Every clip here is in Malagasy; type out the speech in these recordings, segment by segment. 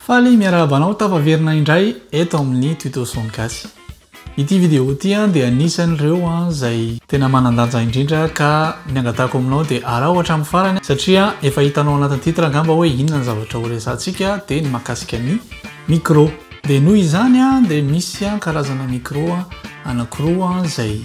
Faly miarahaba anao tafaverina indray eto amin'ny Tuto Son Gasy. Ity vidéo ity dia anisan'ireo izay tena manan-danja indrindra ka ny angatahako aminao dia araho hatramin'ny farany satria efa hitanao anatin'ny titre angamba hoe inona ny zavatra horesahantsika dia ny mahakasika ny micro. Dia noho izany dia misy karazana micro anankiroa izay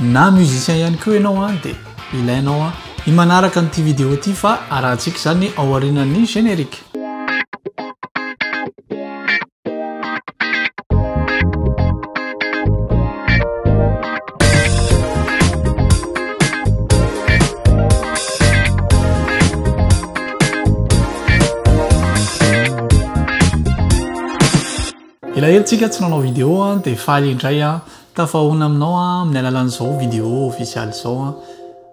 Na musicien ihany koa ianao an dia ilainao an i manaraka an'ity vidéo ity fa arahantsika izany ao aorianan'ny générique. Elaela tsika tsy nanao vidéo an de faly indray an tafahaona aminao an amin'ny alalan'izao vidéo official izao an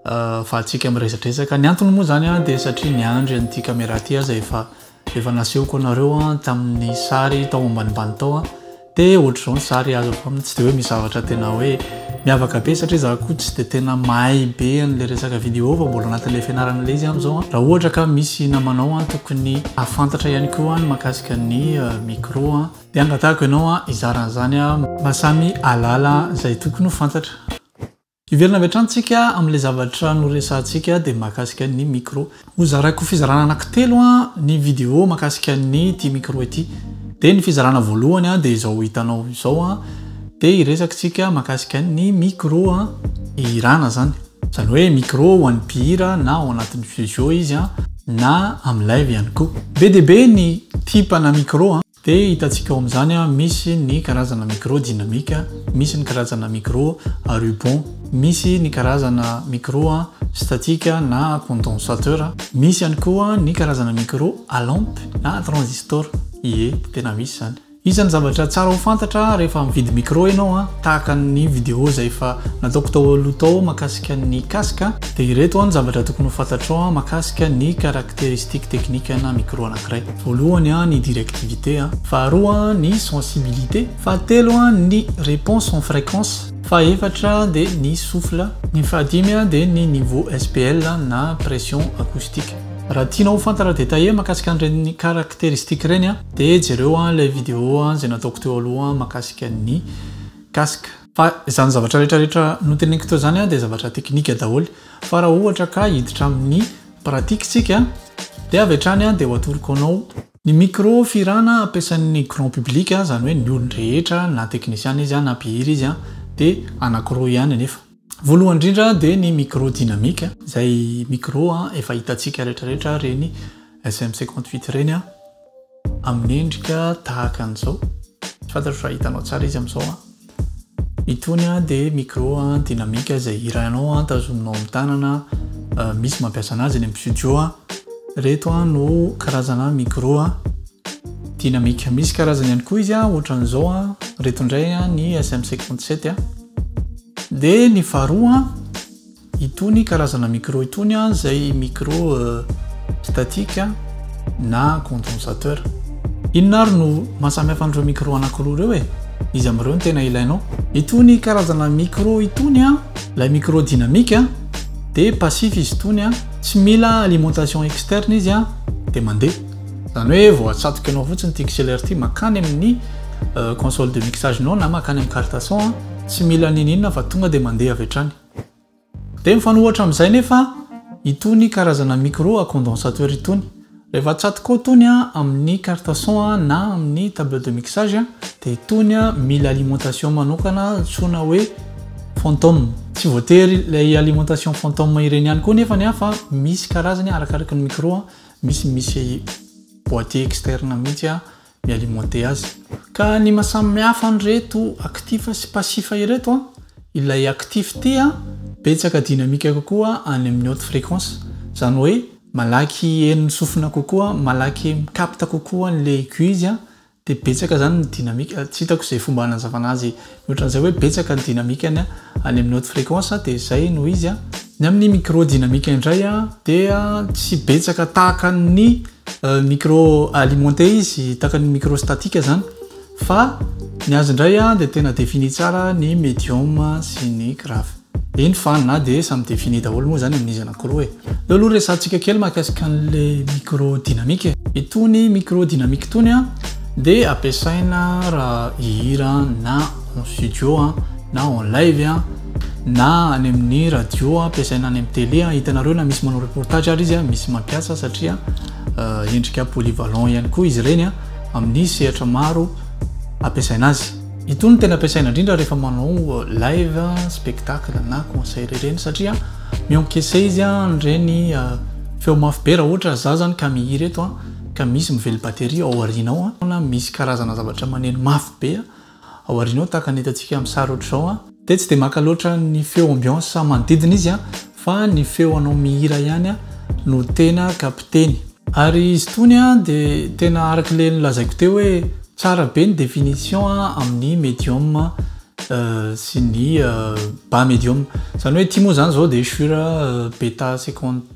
afahantsika miresadresaka ny antony moa zany an de satria niandry an'ity camera ty aza efa efa nasehoko anareo an tamin'ny sary tao ambanimbany tao an de ohatr'izao ny sary azo avy aminy tsy de hoe misy zavatra tena hoe Miavaka be satria za koa tsy dia tena mahay be an'ilay resaka vidéo fa mbola anatin'ilay fianarana ilay izy amin'izao an. Raha ohatra ka misy namanao an tokony hahafantatra ihany koa ny mahakasika ny micro an dia angatahiko ianao an hizara an'izany an mba samy hahalala izay tokony ho fantatra. Hiverina avy hatrany tsika amin'ilay zavatra noresahantsika dia mahakasika ny micro. Ho zaraiko fizarana anaky telo ny video makasika ny ity micro ity dia ny fizarana voalohany dia izao hitanao izao dia hiresakitsika makasika ny micro hihirana zany zany hoe micro ho an'ny mpihira na ao anatin'ny studio izy na amin'ny live ihany koa be dia be ny tipana micro Dia hitantsika ao amin'izany misy ny karazana micro dynamique, misy ny karazana micro à ruban, misy ny karazana micro statique na condensateur, misy ihany koa ny karazana micro à lampe na transistor, ie, tena misy izany. Iza ny zavatra tsara ho fantatra rehefa mividy micro ianao a, tahaka ny vidéo izay efa nataoko tao aloha tao mahakasika ny casque, dia ireto ny zavatra tokony ho fantatrao mahakasika ny caractéristique technique ana micro anankiray. Voalohany an ny directivité an. Faharoa an ny sensibilité. Fahatelo an ny réponse en fréquence. Fahefatra an dia ny souffle. Ny fahadimy an dia ny niveau SPL na pression acoustique. Raha tianao ho fantatra détaillé makasika an'ireny caractéristique ireny an dia jereo an ilay vidéo izay nataoko teo aloha makasika ny casque. Fa izany zavatra rehetra rehetra noteneniko teo izany dia zavatra teknika daholo. Fa raha ohatra ka hiditra amin'ny pratique tsika dia avy hatrany dia ho atoroko anao. Ny micro fihirana ampiasain'ny grand public izany hoe ny olon-drehetra na teknisiana izy na mpihira izy dia anankiroa ihany anefa. Voalohany indrindra dia ny micro dynamique izay micro efa hitantsika rehetra rehetra ireny SM58 ireny. Amin'ny endrika tahaka an'izao, tsy fantatro raha hitanao tsara izy amin'izao an. Itony dia micro dynamique izay hirainao an, tazominao amin'ny tanana, misy mampiasa anazy any amin'ny studio an. Ireto no karazana micro dynamique. Misy karazany ihany koa izy an, ohatran'izao an, ireto indray an, ny SM57 an. Dia ny faharoa an, Itony karazana micro itony an zay micro statique na condensateur. Inona ary no mahasamihafa an'ireo micro anakiroa ireo e? Iza amin'ireo no tena ilainao? Itony karazana micro itony an, ilay micro dynamique an dia passif izy itony an, tsy mila alimentation externe izy an dia mandeha. Izany hoe vao atsatoka anao fotsiny ity XLR ity makany amin'ny console de mixage nao na makany amin'ny carte son an, tsy mila n'inon'inona fa tonga dia mandeha avy hatrany. Dia mifanohitra amin'izay nefa itony karazana micro à condensateur itony. Rehefa atsatoka ao itony amin'ny carte son na amin'ny table de mixage dia itony mila alimentation manokana antsoina hoe fantôme. Tsy voatery ilay alimentation fantôme ireny ihany koa nefa ny ahy fa misy karazany arakaraky ny micro, misy misy boîtier externe mihitsy ny alimenter azy. Ka ny maha samy hafa an'ireto actif sy passif ireto an, ilay actif tia betsaka dynamique kokoa any amin'ny haute fréquence, izany hoe malaky henon'ny sofina kokoa, malaky mi capte kokoa an'ilay aiguille izy an, dia betsaka izany ny dynamique, tsy hitako izay fomba hanazavana azy Mihoatran'izay hoe betsaka ny dinamikany any amin'ny haute fréquence dia izay no izy a. Ny amin'ny micro dinamika indray a dia tsy betsaka tahaka ny micro alimenté izy tahaka ny micro statique zany fa ny azy indray a dia tena défini tsara ny medium sy ny grave. Eny fa na dia samy défini daholo moa izany amin'izy anankiroa e. Aleo aloha resahantsika kely mahakasika an'le micro dynamique e. Itony micro dynamique itony an dia ampiasaina raha hihira na en studio an, na en live an, na any amin'ny radio an, ampiasaina any amin'ny télé an, hitanareo na misy manao reportage ary izy an, misy mampiasa satria endrika polyvalent ihany koa izy ireny an, amin'ny sehatra maro ampiasaina azy. Itony no tena ampiasaina indrindra rehefa manao live, spectacle na concert ireny satria mi-encaisser izy an'ireny feo mafy be raha ohatra za zany ka mihira eto ka misy mively batterie ao aoriana ao na misy karazana zavatra maneno mafy be ao aoriana ao tahaka ny hitantsika amin'ny sary ohatr'izao. Dia tsy dia maka loatra ny feo ambiance manodidina izy an, fa ny feo anao mihira ihany an no tena kapiteny. Ary izy itony an dia tena araka ilay nolazaiko teo hoe tsara be ny définition an amin'ny medium an sy ny bas medium. Izany hoe ity moa izany izao dia sur beta secondaire.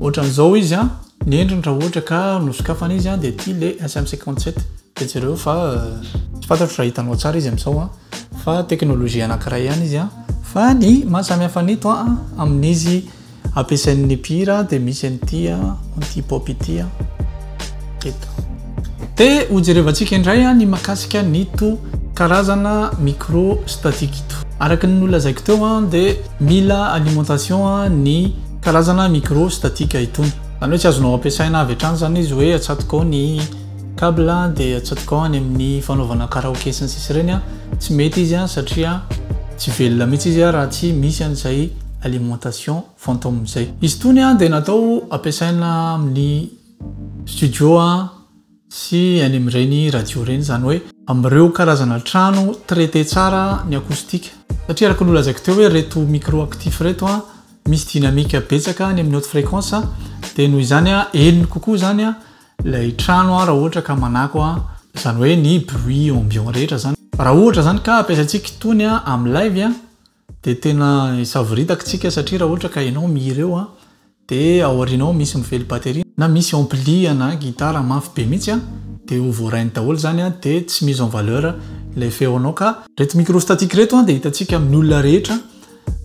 Ohatran'izao izy an, ny endriny raha ohatra ka nosokafana izy an dia ity ilay SM57 dia jereo fa tsy fantatro raha hitanao tsara izy amin'izao an fa teknolojia anankiray ihany izy an fa ny mahasamihafa an'ito an amin'izy ampiasain'ny mpihira dia misy an'ity an anti-pop ity an eto. Te ho jerevantsika indray ny mahakasika an'ito karazana micro statique ito. Araka ny nolazaiko teo dia mila alimentation ny karazana micro statique itony. Izany hoe tsy azonao ampiasaina avy hatrany izany izy hoe atsatoka ao ny cable dia atsatoka ao any amin'ny fanaovana karaoke sy ny sisa ireny. Tsy mety izy satria tsy velona mihitsy izy raha tsy misy an'izay alimentation fantôme izay. Izy itony dia natao ampiasaina amin'ny. studio a sy any amin'ireny radio ireny izany hoe amin'ireo karazana trano traiter tsara ny acoustique satria araka ny nolazaiko teo hoe ireto micro actif ireto a misy dynamique betsaka any amin'ny haute fréquence dia noho izany a henony kokoa izany a ilay trano a raha ohatra ka manako a izany hoe ny bruit ambiant rehetra izany raha ohatra izany ka ampiasaintsika itony a amin'ny live a Dia tena hisavoritaka isika satria raha ohatra ka ianao mihira eo dia ao aorianao misy mifely batterie na misy ampli ana guitare mafy be mihitsy dia ho voarainy daholo izany dia tsy mise en valeur ilay feonao ka Ireto micro statique ireto dia hitantsika amin'ny olona rehetra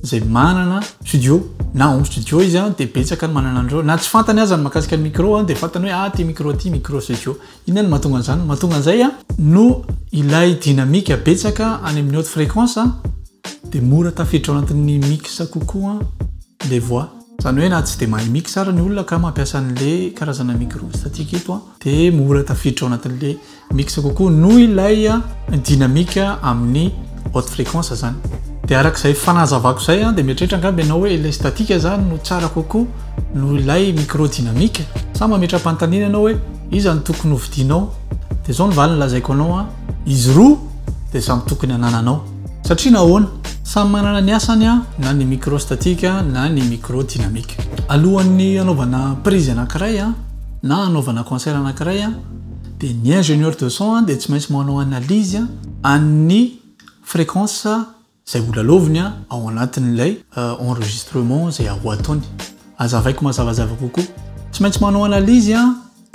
izay manana studio na home studio izy dia betsaka ny manana an'ireo na tsy fantany aza ny mahakasika ny micro dia fantany hoe ah ity micro ity micro studio. Inona no mahatonga an'izany? Ny mahatonga an'izay no ilay dynamique betsaka any amin'ny haute fréquence dia mora tafiditra ao anatin'ny mix kokoa ilay voix. Izany hoe na tsy dia mahay mix ary ny olona ka mampiasa an'ilay karazana micro statique eto dia mora tafiditra ao anatin'ilay mix kokoa noho ilay dynamique amin'ny haute fréquence izany. Dia araka izay fanazavako izay dia mieritreritra angamba ianao hoe ilay statique izany no tsara kokoa noho ilay micro dynamique? Sa mametra-panontaniana ianao hoe. Iza no tokony hovidianao? Dia izao ny valiny lazaiko anao an! Izy roa dia samy tokony hanananao. Satria nahoana? Samy manana ny asany an, na ny microstatique na ny microdynamique. Alohan'ny hanaovana prise anankiray an, na hanaovana concert anankiray an, dia ny ingénieur de son an dia tsy maintsy manao analyse an'ny fréquence. Izay ho lalaoviny ao anatin'ilay enregistrement izay ho ataony. Aza avaiko mazavazava kokoa. Tsy maintsy manao analyse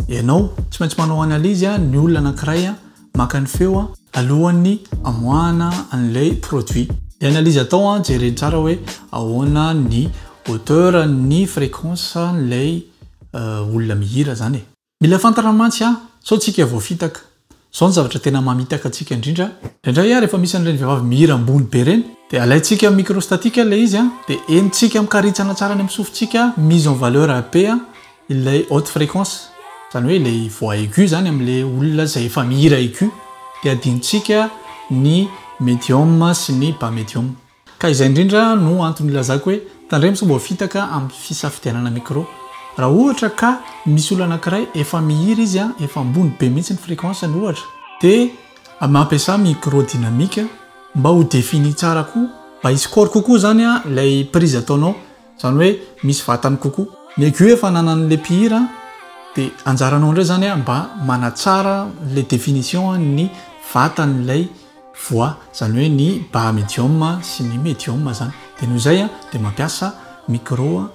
ianao, tsy maintsy manao analyse ny olona anankiray maka ny feo alohan'ny amoahana an'ilay produit. Ny analyse atao, jereny tsara hoe ahoana ny hauteur, ny fréquence an'ilay olona mihira izany e. Mila fantatra mantsy an, sao tsika voafitaka. Zao ny zavatra tena mamitaka antsika indrindra, indraindray an rehefa misy an'ireny vehivavy mihira ambony be ireny dia alaintsika micro statique ilay izy an dia henontsika mikaritsana tsara any amin'ny sofintsika mise en valeur be an ilay haute fréquence, izany hoe ilay voix aiguë izany amin'ilay olona izay efa mihira aiguë dia adinontsika ny medium sy ny bas medium. Ka izay indrindra no antony ilazako hoe tandremo sao voafitaka amin'ny fisafidianana micro. Raha ohatra ka misy olona anankiray efa mihira izy an, efa ambony be mihitsy ny fréquence-ny ohatra, dia mampiasa micro dynamique mba ho défini tsara koa, mba hisy corps kokoa izany ilay prise ataonao, izany hoe misy vatany kokoa. Ny aigu efa ananan'ilay mpihira an, dia anjaranao indray izany mba manatsara ilay définition ny vatan'ilay. voix zany hoe ny bas medium sy ny medium zany de noho izay de mampiasa micro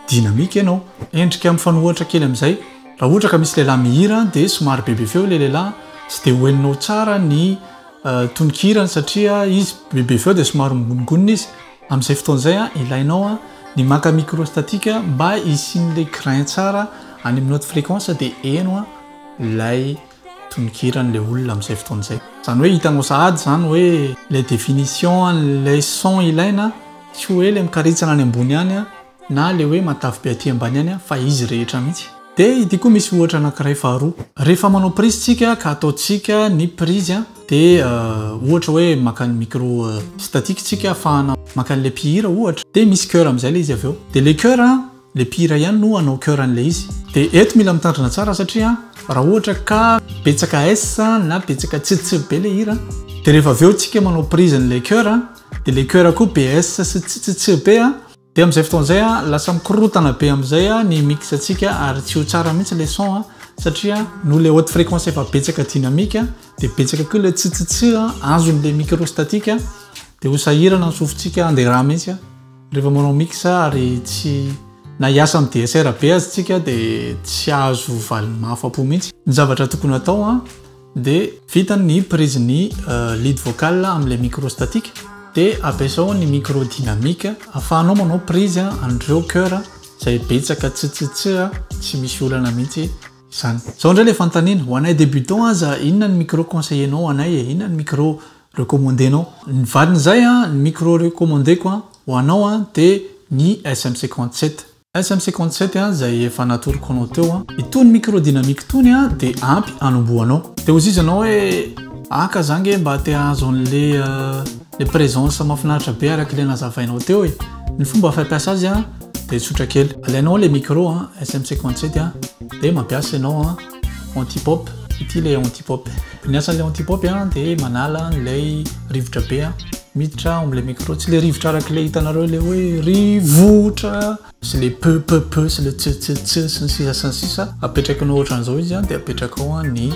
dynamique ianao endrika mifanohitra kely amin'izay raha ohatra ka misy lehilahy mihira de somary bebe feo ilay lehilahy tsy de ho henonao tsara ny tononkirany satria izy bebe feo de somary mihonongonona izy amin'izay fotoana izay ilainao ny maka micro statique mba hisian'ilay grain tsara any amin'ny note frequence de heno ilay tononkirany le olona amin'izay fotoana izay. Izany hoe hitanao sahady izany hoe ilay définition an'ilay son ilaina tsy hoe ilay mikaritsana any ambony any na ilay hoe matavy be aty ambany any fa izy rehetra mihitsy. Dia ity koa misy ohatra anankiray faharoa. Rehefa manao prise tsika ka ataontsika ny prise dia ohatra hoe maka ny micro statique tsika afahana maka an'ilay mpihira ohatra dia misy coeur amin'izay ilay izy avy eo. Dia ilay coeur Le mpihira ihany no hanao chœur an'ilay izy. De eto mila mitandrina tsara satria raha ohatra ka betsaka S na betsaka tsitsy be le hira de rehefa avy eo tsika manao prise an'ilay chœur de le chœur koa be S sy tsitsitsy be de amin'izay fotoana izay lasa mikorotana be amin'izay ny mix tsika ary tsy ho tsara mihitsy le son satria noho le haute fréquence efa betsaka dynamique de betsaka koa le tsitsitsy azon'ilay micro statique de ho sahirana ny sofintsika hande ra mihitsy. Rehefa manao mix ary tsy na hiasa am DSR be aza tsika de tsy azo valiny mahafapo mintsy. Ny zavatra tokony atao an de vita ny prise ny lead vocal am le micro statique de ampiasao ny micro dynamique afahanao manao prise anreo coeur zay betsaka tstsits tsy misy olana mintsy izany. Zao ndray le fanontaniana, ho anay debutant aza inona ny micro conseiller nao anay e? Inona ny micro recommandé-nao. Ny valin'izay, ny micro recommandé-ko ho anao dia ny SM cinquante sept. SM cinquante sept izay efa natoroko anao teo. Itony micro dynamique itony dia ampy hanombohanao. Dia hozizy anao hoe, Aka za ange mba te hahazo an'ilay présence mahafinaritra be araka ilay nazavainao teo e. Ny fomba fampiasa azy dia tsotra kely. Alainao ilay micro SM cinquante sept dia mampiasa ianao. Antipop, ity ilay antipop. Ny asan'ilay antipop dia manala an'ilay rivotra be miditra ao amin'ilay micro. Tsy ilay rivotra araka ilay hitanareo ilay hoe rivotra sy ilay peu peu peu sy ilay tse tse tse sy ny sisa sy ny sisa. Apetrakinao ohatran'izao izy dia apetrakao ny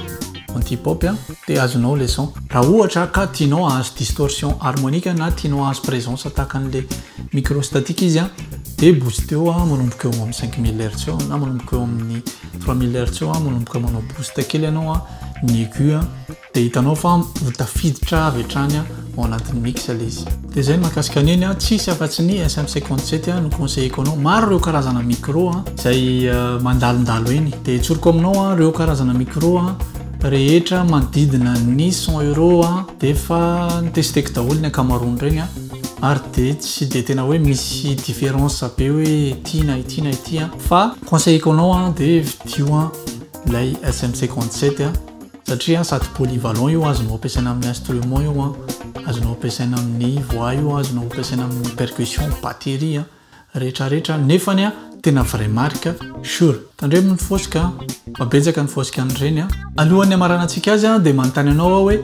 antipop dia azonao ilay son. Raha ohatra ka tianao hahazo distorsion harmonika na tianao hahazo presence tahaka an'ilay micro statique izy dia boosteo manomboka eo amin'ny 5000 Hz eo na manomboka eo amin'ny Trois mille hertz eo a, manomboka manao boost kely ianao a, ny aigu a, dia hitanao fa ho tafiditra avy hatrany a, ao anatin'ny mix ilay izy. Dia izay ny mahakasika ny eny a, tsisy afa-tsy ny SM57 a, no conseilleko anao. Maro ireo karazana micro a, izay mandalondalo eny. Dia tsoriko aminao a, ireo karazana micro a, rehetra manodidina ny cent euros a, dia efa nitesteko daholo ny ankamaroan'ireny a, ary dia tsy dia tena hoe misy différence be hoe ity na ity na ity a, fa. Conseilleko anao an de vidio an ilay SM 57 an satria sady polyvalent io azonao ampiasaina amin'ny instrument io an, azonao ampiasaina amin'ny voix io an, azonao ampiasaina amin'ny percussion, batterie an, rehetra rehetra nefany an tena vrai marque Shure. Tandremo ny fosika an fa betsaka ny fosika an'ireny an. Alohan'ny hamaranantsika azy an de manontany anao aho hoe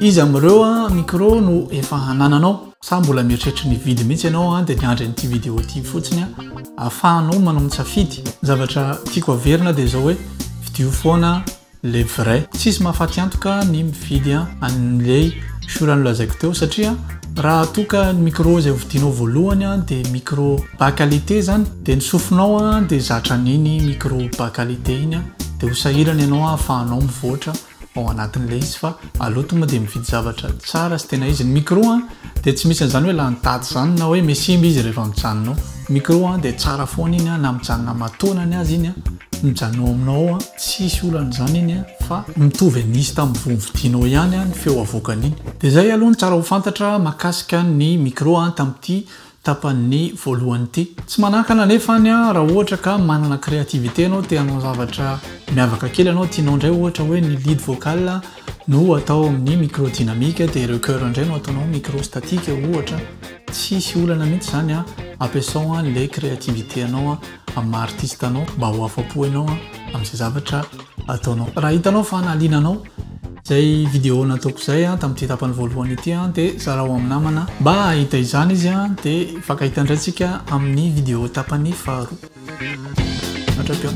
iza amin'ireo an micro no efa anananao? Sa mbola mieritreritra ny hividy mihitsy ianao an dia miandry an'ity vidéo ity fotsiny an, ahafahanao manao ny safidy. Ny zavatra tiako averina dia izao hoe vidio foana le vrai. Tsisy mahafaty antoka ny mividy an'ilay shura nolazaiko teo satria raha toa ka ny micro izay hovidianao voalohany an dia micro bas qualité izany dia ny sofinao an dia zatra an'iny micro bas qualité iny an dia ho sahirana ianao ahafahanao mivoatra ao anatin'ilay izy fa aloto moa dia mividy zavatra tsara sy tena izy ny micro an dia tsy misy an'izany hoe lany daty izany na hoe mesimba izy rehefa mijanona ao micro an dia tsara foana iny an na mijanona matoana ny azy iny an mijanona ao aminao ao an tsisy olana izany iny an fa mitovy nisy tamin'ny vovidianao ihany an ny feo avoakan'iny dia izay aloha ny tsara ho fantatra makasika ny micro an tamin'ity tapan'ny voalohany ity. Tsy manakana anefa any aho raha ohatra ka manana créativité ianao te hanao zavatra miavaka kely ianao tianao indray ohatra hoe ny lead vocal no atao amin'ny micro dynamique dia ireo chœur indray no ataonao micro statique ohatra tsisy olana mihitsy izany an, ampiasao an'ilay créativité anao an amin'ny maha artiste anao mba ho afa-po ianao an amin'izay zavatra ataonao. Raha hitanao fa nahaliana anao Izay vidéo nataoko izay tamin'ity tapany voalohany ity dia zarao amin'ny namana mba hahita izany izy dia hifankahita indray tsika amin'ny vidéo tapany faharoa. Hatratrao.